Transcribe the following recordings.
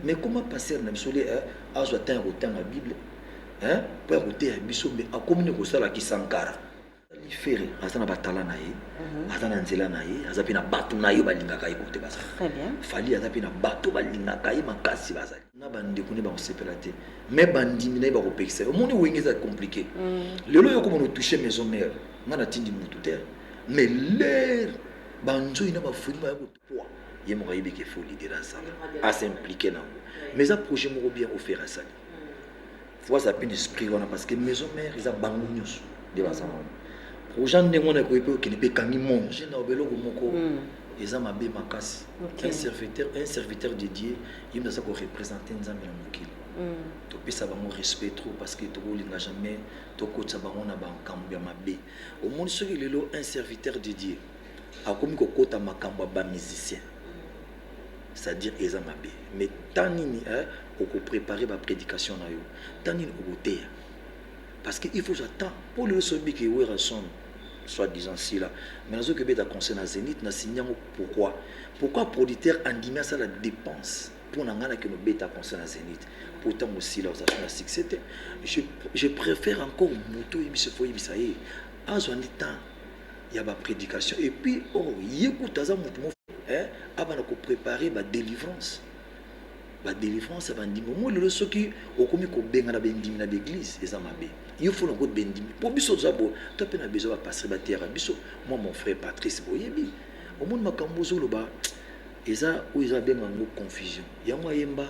mais comment pasteur na biso le azwa temps ya kotanga bible hein mpo ya koteya biso mais akomi ne kosala kisankara ferre aza na batala na ye mhm. aza na nzela na ye aza mpe na bato na ye balingaka ye kote bazali fali aza mpe na bato balingaka ye makasi bazali na bandeko ne bakosepela te me bandimi na ye bakopekisa ye omoni wenge eza komplike mhm. lelo yo komona otouche maison mare ngai natindi motu te mais lere banzoi na bafuli baya ye moko ayebi ke fo leader asala asa implique nango mais eza projet moko bien ofere asali fo aza mpe na esprit wana parce que maison mère eza bango nyonso nde baza wana projet ndenge wana ekoki mpe okende mpe ekangi monde jena oba eloko moko hmm. eza mabe makasi un serviteur un serviteur de dieu ye moto aza korepresente nzambe na mokili hmm. topesa bango respect trop parce que tokolinga jamais tokotisa bango na bankambo ya mabe omoni soki lelo un serviteur de dieu akomi kokota makambo ya ba musicien c'est-à-dire eza mabe mais temps nini eh, okoprepare bapredication na yo temps nini okoteya parce que il faut j'attends mpo lelo sobiki werrason soit disant sila mais nazoki obeta conseil na zénith na sini yango pourquoi pourquoi producteur andimi asala dépense mpo na ngai nakende obeta conseil na zénith mpo ntango sila ozalaki na succès te je, je préfère encore moto oyebisa fo oyebisa ye azwa nde temps ya ba predication et puis oh ye kuta aza mutu mo eh, abana ko prepare ba delivrance ba delivrance ya bandimi omo lelo soki okomi kobengana bendimi na baeglise eza mabe yo fo na koyeba bendimi mpo biso toza boye to mpe na besoin bapastre bateyaka biso moi mon frère patrice boyebi omoni makambo ozoloba eza oyo eza benga yango confusion yango ayemba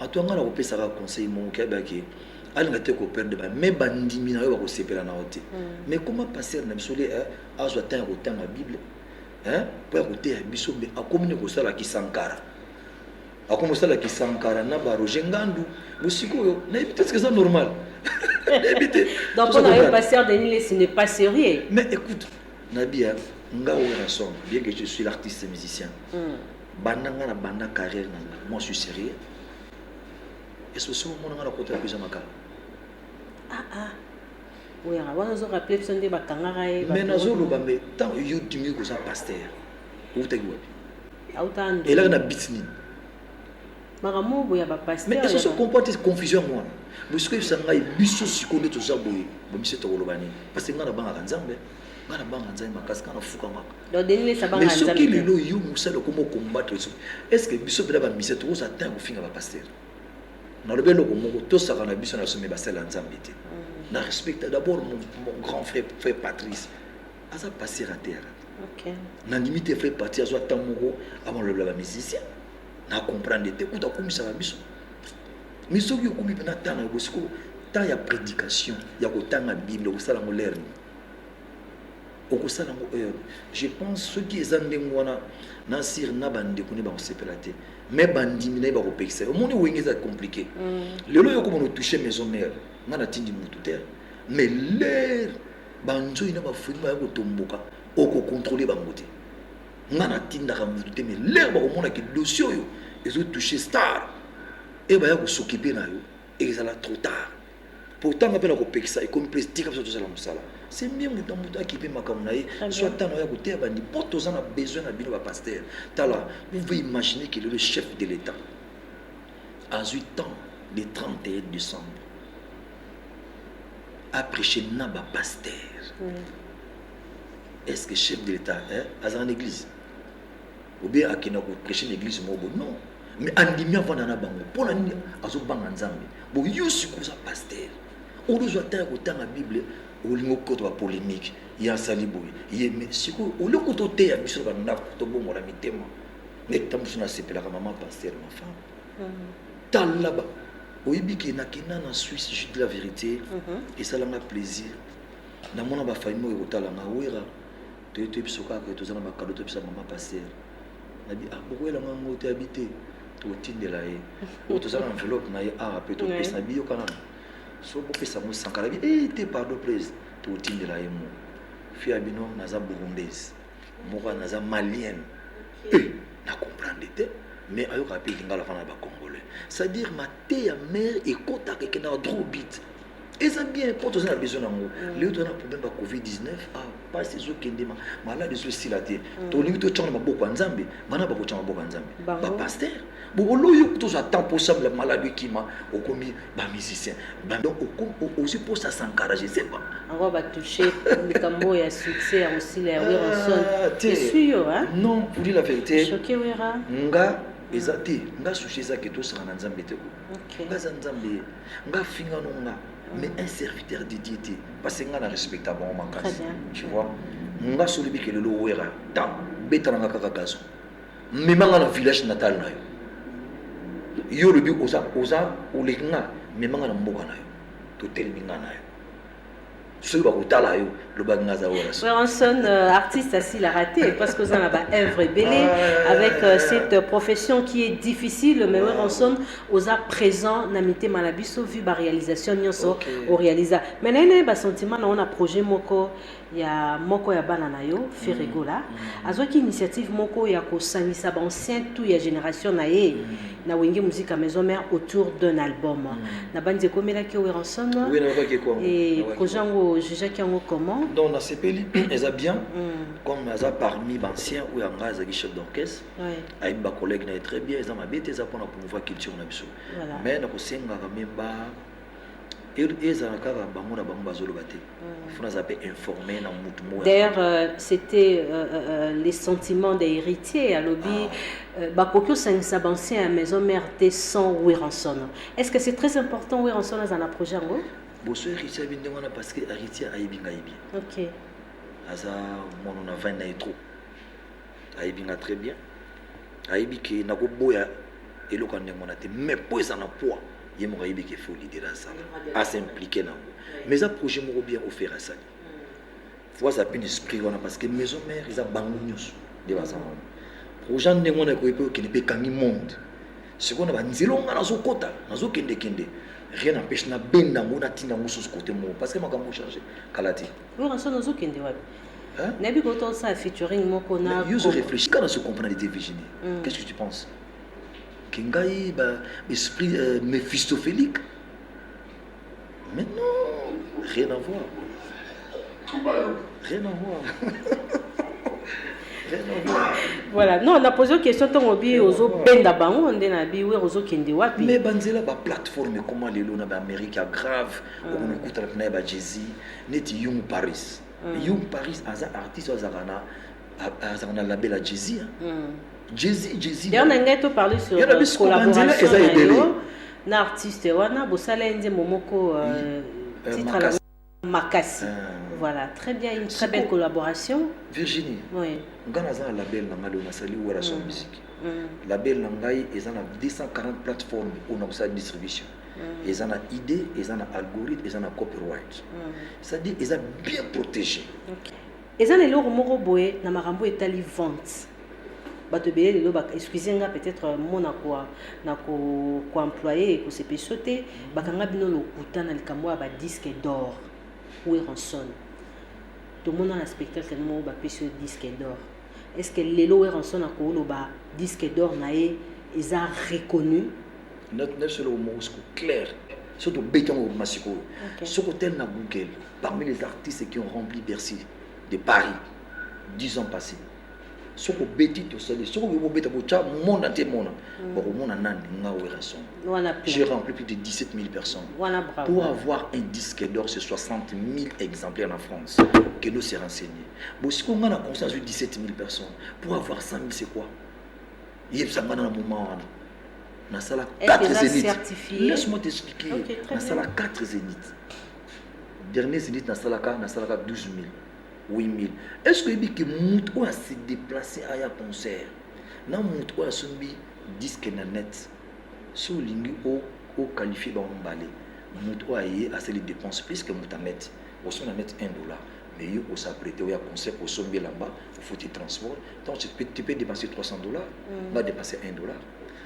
ato nga na kopesaka conseil moko keba ke alinga te koperde ba me bandimi na yo bakosepela na yo te me mm. koma pastere na biso le eh, azwa ntan ya kotanga bible eh, mpo ya koteya biso me akomi ne kosala kisankara akomi kosala kisankara na ba roger ngandu bosikoyo nayebi te eza normal nayebi te donc mpo na yo pasteur denis lesi n'est pas sérieux mais écoute nabi nga oyo na somme bien que je suis l'artiste musicien mm. Banda nga na banda carrière na nga moi suis serieux est ce que soki omona nga na kota eza makambo ah ah oyanga wana ozo rappeler biso nde bakangaka ye mais nazoloba mais ntango yo dimi koza pasteur outaki wapi elaka na bit nini makambo boye ya bapastersoso comprendre te confusion yango wana bosiko yebisa ngai biso sikoyo nde toza boye bomiso tokoloba nini parce que ngai nabangaka nzambe ngai nabangaka nzambe makasi ngai nafukamaka Donc Denis Lesa banga Mais soki nzambe. lelo yo musala okomo combattre soki est-ce que biso pela ba musala tokoza temps ya kofinga ba pasteur nalobi eloko moko tosaka na biso na sommet basala ya nzambe te na respecta d'abord mon, mon grand frère frère patrice aza pasteur ya terre Okay. nandimi te frère patrice azwa temps moko amalobela ba musicien na comprendre te kuta akumisaka biso mais soki okomi mpena temps na yo bosiko temps ya prédication ya kotanga bible okosala yango lerne okosala yango heure je pense soki eza ndenge wana na sire na bandeko ne bakosepela te me bandimi na ye bakopekisa ye omoni wenge eza compliqué mm. lelo yo komona otouche maison mare nga natindi motu te mais lere banzoi na bafoni baya kotomboka okokontrole bango te nga natindaka motu te mais lere bakomonaki dossier oyo ezotouche star e baya kosokipe na yo Ezala trop tard. Pourtant nga mpe na kopekisa ekomi mpe tika biso tozala mosala. C'est bien moto na moto akipe makambo na ye soit ntango ya koteya bandi mpo toza na besoin na bino bapasteur tala vous pouvez imaginer que le chef de l'état azwi temps le 31 décembre apreche na bapasteur oui. est ce que chef de l'état eh, aza na église ou bien akenda ko prêcher na église moko boye non mais andimi avanda na bango mpo na nini azobanga nzambe bo yo sikoyo oza paster olozwa ntan ya kotanga bible olingi okota bapolémike ye asali boye ye me sikoyo olie kuta oteya biso na bandako tobongola mitema neti ta mosusu nasepelaka mama paster ma femme mm. tala oyebi ke nakenda na suisse jus de la vérité mhm. esalanga plaisir namona bafamille oyo ekotala nga wera toye toyebi biso kaka toza na makado topesa mama paster nabi ah, bokoyela nga ngo te abi te tokotindela ye oyo toza na enveloppe na ye awa mpe topesa nabi yoka nano so bopesa ngo sanka nabi e eh, te pardon please tokotindela ye mo fi ya bino naza burundaise moko naza malienne e eh, na comprendre te mais ayokaka mpe lingala fana na bacongolais c'est à dire mateya mare ekotaka ekendaka droit bit eza bien mpo toza na besoin yango mm. leo toza na problème ba covid-19 ah, mpasi ezokende malade ezo esila te mm. tolingi totyanga na maboko ya nzambe bana bakotyanga maboko ya nzambe bapaster boboloyo tozwa temps mposambela malade ekima okomi bamusicien donc ozi mposa sankara je sais pas yango batouche likambo oyo ya succès ya kosila ya weronson ah, esui yo non pour dire la vérité nga eza te nga sushi eza ke tosanga na nzambe te ko nga eza nzambe Nga finga no nga mais un serviteur de Dieu te parce que nga na respecta bango makasi tu vois nga soli bike lelo wera ta beta na nga kaka gazo mema nga na village natal na yo yo olobi oza oza oleki nga mema nga na mboka na yo totelemi nga na yo soki bakotala yo lobaki nga aza wana weranson euh, artiste asila raté parce que oza na ba œuvre ebele ah. avec euh, cette profession qui est difficile mais weranson oza présent na mitema na biso vu ba réalisation nyonso okay. orealisa mais naye naye basentiment na ona projet moko ya moko ya bana na yo ferregola mm. mm. azwaki initiative moko ya kosangisa baancien tout ya génération na ye mm. na wenge musique à maison mère autour d'un album mm. na banzi ekomelaki yo weranson oui, et projet yango jugeaki yango comment donc nasepeli eza bien mm. comme aza parmi bancien oyo ya ngai azalaki chef d'orchestre ayebi bacollègue na ye très bien eza mabe te eza mpona promouvoir culture na biso mais nakosengaka meme ba ezala kaka bango na bango bazoloba te mm. fona aza mpe informe na mutu moko d'ailleurs euh, c'était euh, euh, euh, les sentiments des héritiers alobi ah. euh, bakoki osangisa bancien ya maison mère te sans wiranson est ce que c'est très important wiranson aza na projet yango boso héritier abi ndenge wana parce que héritier ayebi ngai bien ok aza mono na vine na ye trop ayebi nga très bien ayebi ke nakoboya eloko ya ndenge wana te mais mpo eza na poids ye moko ayebi ke fo lidere asala asimplike na yango mais eza projet moko bien ofere asali fo aza mpe na esprit wana parce que maison mare eza bango nyonso nde baza wana projet ya ndenge wana ekoki mpe okende mpe ekangi monde sikoyo na banzela onga nazokɔta nazokendekende rien n'empêche nabenda yango natinda yango susu kote moko parce que makambo ochange kala te Hein? nayebi ko tosala featuring moko na yo ozo réfléchir kaka nazo comprendre te virginie mm. qu'est ce que tu penses ke ngai ba esprit euh, méphistophilique mais non rien à voir rien à voir voilà non na pose question ntango obi ozobenda bango nde na bi wer ozokende wapi mais banzela baplateforme ekoma lelo na baamérique ya grave okonokutanaka na ya bajezi neti yung paris mm. Young Paris aza artiste oyo azalaka na azalaka na label ya Jay-Z mm. Jay-Z Jay-Z d'ailleurs na ngai to parler sur euh, collaboration eza ebele na artiste wana bosala ye nzembo moko euh, euh, titre makasi, makasi. Euh. voilà très bien une très belle collaboration Virginie oui ngai naza na label na ngai oyo nasali wera son mm. musique mm. label na ngai eza na 240 plateforme oyo nakosala distribution mm. eza na idée eza na algorithme eza na copyright mm. c'est-à-dire eza bien protégé okay. eza na eloko moko boye na makambo etali vente bato ebele lelo excuse nga peut-être euh, mo na koemploye ekosepesa te mm. bakanga bino lokuta na likambo ya badisque d'or weranson tomona na spectacle no moko bapesi yo disque d'or est ce que lelo weranson akoloba disque d'or na ye eza reconnu nayebiso eloko moko siko clair so tobeti yango obima sikoyo soki otali na google parmi les artistes qui ont rempli bercy de paris 10 ans passé soki obeti tosali soki okoki kobeta botya monde entier mona mm. bakomona nani nga werrason j'ai rempli plus de 17 000 personnes pour avoir un disque d'or c'est 60 000 exemplaires na france kendo se renseigner bosiko nga na conscience 17 000 personnes pour avoir 100 000 c'est quoi yebisa nga na moment wana nasala 4 zénith laisse moi t'expliquer okay, nasala 4 zénith dernier zénith nasalaka nasalaka 12 000 8000 est ce que oyebi ke moto oyo ase déplace aya concert na moto oyo asombi disque na net so olingi oqualifie bango mbale moto oyo aye asali dépense puisque moto aneti osombi na net 1 dollar mais yo o s'apprêter oya concert osombi elamba ofuti transport donc tu peux, tu peux dépenser 300 dollars mm. nga dépenser 1 dollar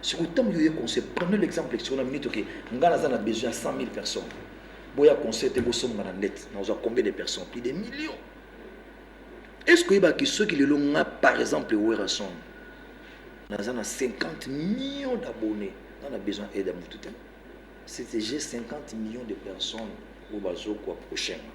soki ntango yo oye concert prenez l'exemple sur la minute oke nga naza na besoin ya 100 000 personnes boya concert te bosomba na net nazwa combien de personnes plus des millions est ce que oyebaki soki lelo nga par exemple werrason naza na 50 millions d'abonnés nga na besoin aide ya motu te c'était j'ai 50 millions de personnes oyo bazokwa prochainement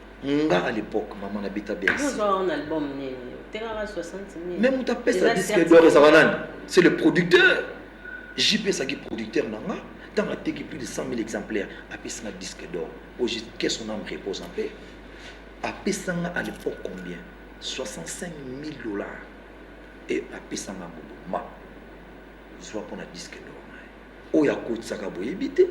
nga à l'époque maman nabeta bercy mais moto apesa disque d'or ezaka nani c'est le producteur jp ezalaki producteur na nga ntango ateki plus de 100 000 exemplaires apesi nga disque d'or oyo que son âme repose en paix apesa nga à l'époque combien 65 000 dollars e apesa nga mobo ma zwa mpo na disque d'or oyo akotisaka boyebi te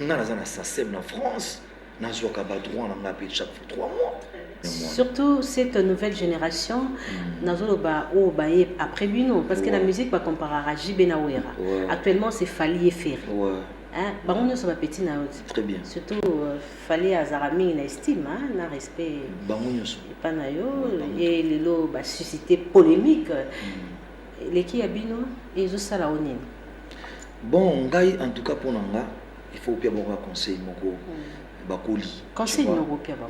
nga naza na sasem na france nazwaka badroit na nga mpe chaque fois trois mois surtout cette nouvelle génération mm. nazoloba oyo baye après bino parce que la musique bacomparaka jb na wera actuellement c'est fali eferi hein? bango nyonso bapeti na yo très bien surtout euh, fali azalaka mingi na estime hein? na respect bango nyonso epa na yo ye lelo basuscite polémique mm. leki ya bino ezosala o nini bon ngai en tout cas mpo na nga il faut opia bango ya conseil moko hmm. bakoli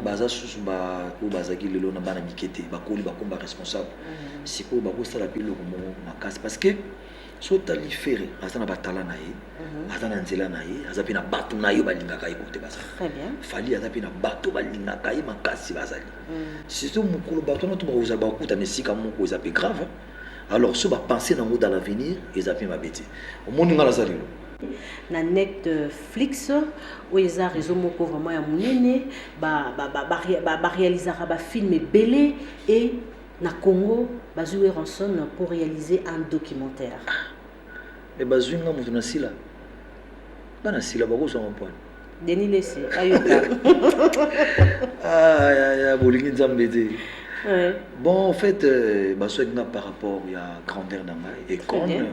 baza susu oyo bazalaki lelo na bana mike te bakoli bakoma baresponsable hmm. sikoyo bakosala mpe eloko moko makasi parce que so otali fere aza na batala na ye hmm. aza na nzela na ye aza mpe na bato na ye balingaka ye kote baza fali aza mpe na bato balingaka ye makasi bazali surtout mokolo bato wana to bakozala bakutana esika moko eza mpe grave alors so ba penser nango dans l'avenir eza pe mabe te omoni nga naza lelo na netflix oyo eza réseau moko vraiment ya monene barealisaka bafilm ebele e na congo bazwi weranson pour réaliser un documentaire me bazwi nga moto na sila bana sila bakozwa mampwana denis lesi ayoka ah, ya, ya, bolingi nzambe te ouais. bon en fait euh, bazwaki nga par rapport ya grandeur na ngai econe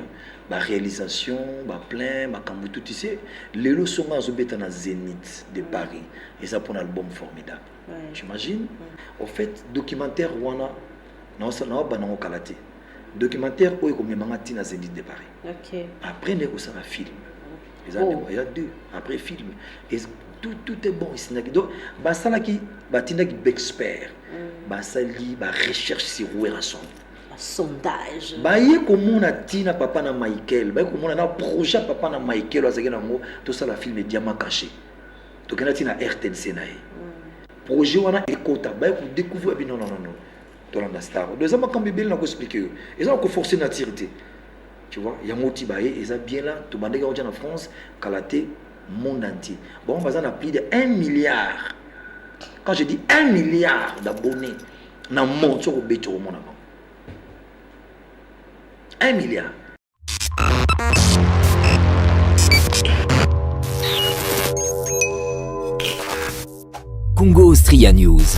baréalisation baplein makambo tout ise lelo songo azobeta na zénith de paris eza mpo na album formidable ouais. j'imagine ouais. au fait documentaire wana naobanango kala te Documentaire oyo ekomema nga tina Zenith de Paris. Okay. Après nde kosala film. Eza oh. ndeko ya deux après film. Et tout tout est bon isinaki. Donc basalaki batindaki bexpert. Mm. Basali ba recherche sur Werrason. sondage baye komona ntina papa na michael baye komona na projet papa na michael azalaki na yango tosala filme diama caché tokenda ntina rtnc na ye mm. projet wana ekota baye kodécouvrir bino nonono tolanda star do eza makambo ebele na koexplike yo eza koforce nature te tu vois yango ti baye eza bien la tobandaki yango tya na france kala te monde entier bango baza na plus de 1 milliard quand je dis 1 milliard d'abonnés na monde soki obeti okomona bango 1 milliard Congo Austria News.